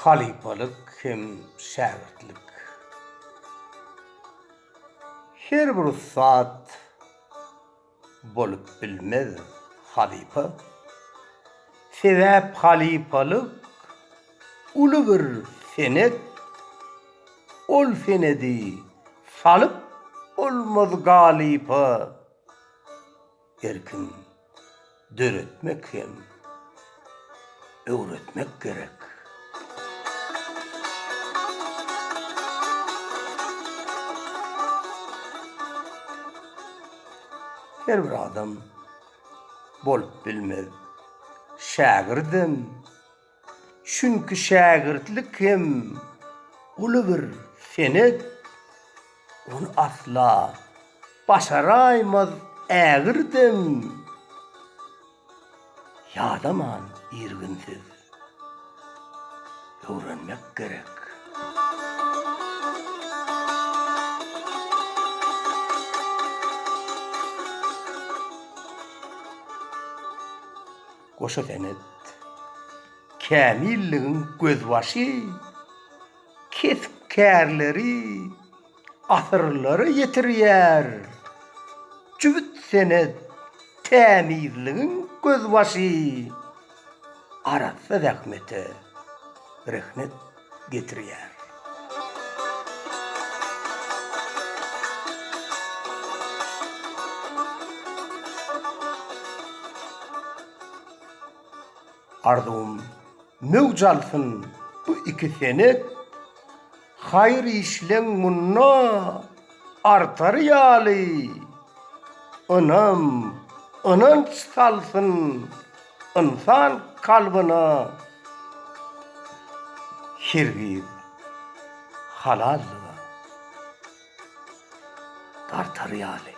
Halypalyk hem şägirtlik. Her bir ussat. bolup bilmez halypa. Sebäp halypalyk uly bir senet, ol senedi salyp bolmaz galypa. Erkin döretmek hem. öwretmek gerek. Her bir adam bolup bilmez şägirdem. Çünki şägirtlik hem uly bir senet. Ony asla başaraýmaz ägirdem. Ýadaman irginsiz öwrenmek gerek. Goşa senet, kämilligiň gözbaşy, kesp-kärleri, asyrlara ýetirýär. Jübüt senet, tämizligiň gözbaşy, arassa zähmete rehnet getirýär. Arzuwym möwç alsyn bu iki senet. Haýyr işleň munda artar ýaly, ynam, ynanç salsyn ynsan kalbyna hergiz halallyga. dartar ýaly.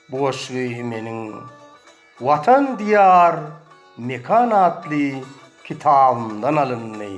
Bu goşgy meniň Watan Diýar mekan atly kitabymdan alyndy.